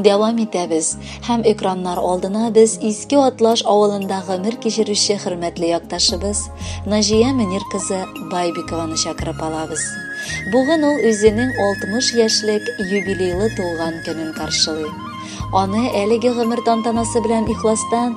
Дәвам итәбез. Һәм экраннар алдына без Иске Атлаш авылында гомер кичерүче хөрмәтле якташыбыз Наҗия Мөнир кызы Байбикованы чакырып алабыз. Бүген ул үзенең 60 яшьлек юбилейлы туган көнен каршылый. Аны әлеге гомер тантанасы белән ихластан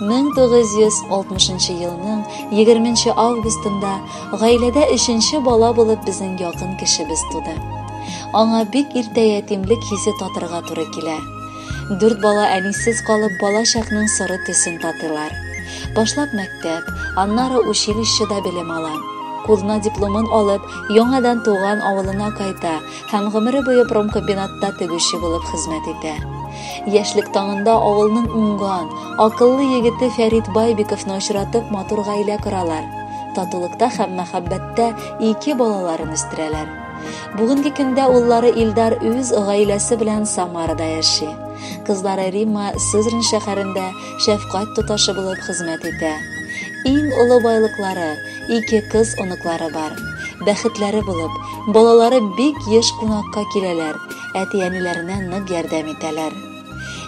1960 елның 20 августында гаиләдә өченче бала булып безнең якын кешебез туды. Аңа бик иртә ятимлек хисе татырга туры килә. Дүрт бала әнисез калып бала чакның соры төсен татылар. Башлап мәктәп, аннары училищеда белем ала. Кулына дипломын алып, яңадан туган авылына кайта һәм гомере буе промкомбинатта тегүче булып хезмәт итә. Яшьлек таңында авылның уңган, акыллы егете Фәрит Байбиковны очратып матур гаилә коралар. Татулыкта һәм мәхәббәттә ике балаларын үстерәләр. Бүгенге көндә уллары Илдар үз гаиләсе белән Самарада яши. Кызлары Римма Сызрань шәһәрендә шәфкать тоташы булып хезмәт итә. Иң олы байлыклары Ике кыз оныклары бар. Бәхетләре булып, балалары бик еш кунакка киләләр, әти-әниләренә нык ярдәм итәләр.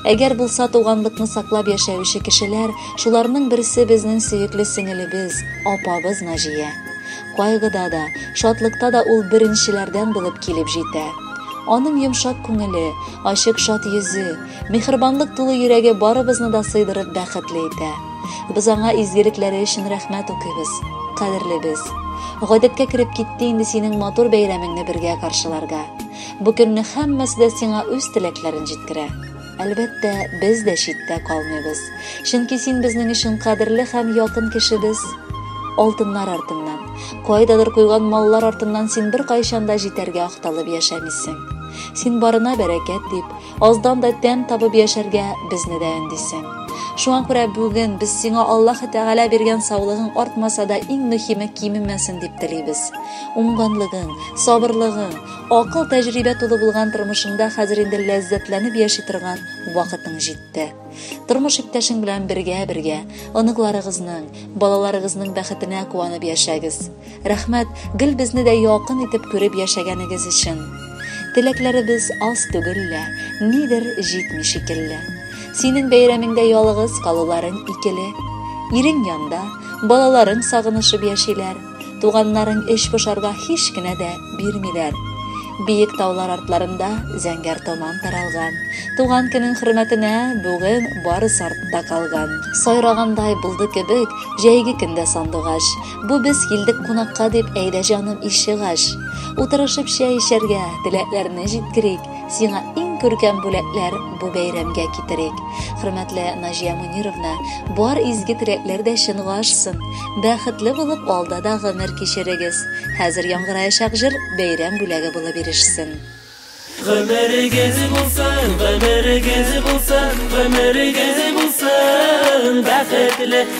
Әгәр булса туганлыкны саклап яшәүче кешеләр, шуларның берсе безнең сөекле сеңелебез, апабыз Наҗия. Кайгыда да, шатлыкта да ул беренчеләрдән булып килеп җитә. Аның йомшак күңеле, ачык шат йөзе, мехербанлык тулы йөрәге барыбызны да сыйдырып бәхетле итә. Без аңа изгелекләре өчен рәхмәт укыйбыз. Кадерле без. Гадәткә кереп китте инде синең матур бәйрәмеңне бергә каршыларга. Бу көнне һәммәсе дә сиңа үз теләкләрен җиткерә. Әлбәттә, без дә читтә калмыйбыз. Чөнки син безнең өчен кадерле һәм якын кешебез. Алтыннар артыннан, кайдадыр куйган маллар артыннан син беркайчан да җитәргә акталып яшәмисең. Син барына бәрәкәт дип, Аздан да тәм табып яшәргә безне дә өндисең. Шуңа күрә бүген без сиңа Аллаһ Тәгалә биргән саулыгың артмаса да иң мөһиме кимемәсен дип телибез. Уңганлыгың, сабырлыгың, акыл тәҗрибә тулы булган тормышыңда хәзер инде ләззәтләнеп яши торган вакытың җитте. Тормыш иптәшең белән бергә-бергә оныкларыгызның, балаларыгызның бәхетенә куанып яшәгез. Рәхмәт, гел безне дә якын итеп күреп яшәгәнегез өчен. Теләкләребез аз түгел лә, нидер җитми шикелле. Синең бәйрәмеңдә ялыгыз калуларың икеле. Ирең янда, балаларың сагынышып яшиләр. Туганнарың эч пошарга һич кенә дә бирмиләр. Биек таулар артларында зәңгәр томан таралган. Туган көнең хөрмәтенә бүген барысы артта калган. Сайрагандай булды кебек җәйге көндә сандугач. Бу без килдек кунакка дип әйдә җаным ишек ач. Утырышып чәй эчәргә, теләкләрне җиткерик. Сиңа иң күркәм бүләкләр бу бәйрәмгә китерик. Хөрмәтле Наҗия Мөнировна, бар изге теләкләр дә чынга ашсын. Бәхетле булып алда да гомер кичерегез. Хәзер яңгыраячак җыр бәйрәм бүләге булып ирешсен. Гомерегез булсын, гомерегез булсын, гомерегез булсын, бәхетле.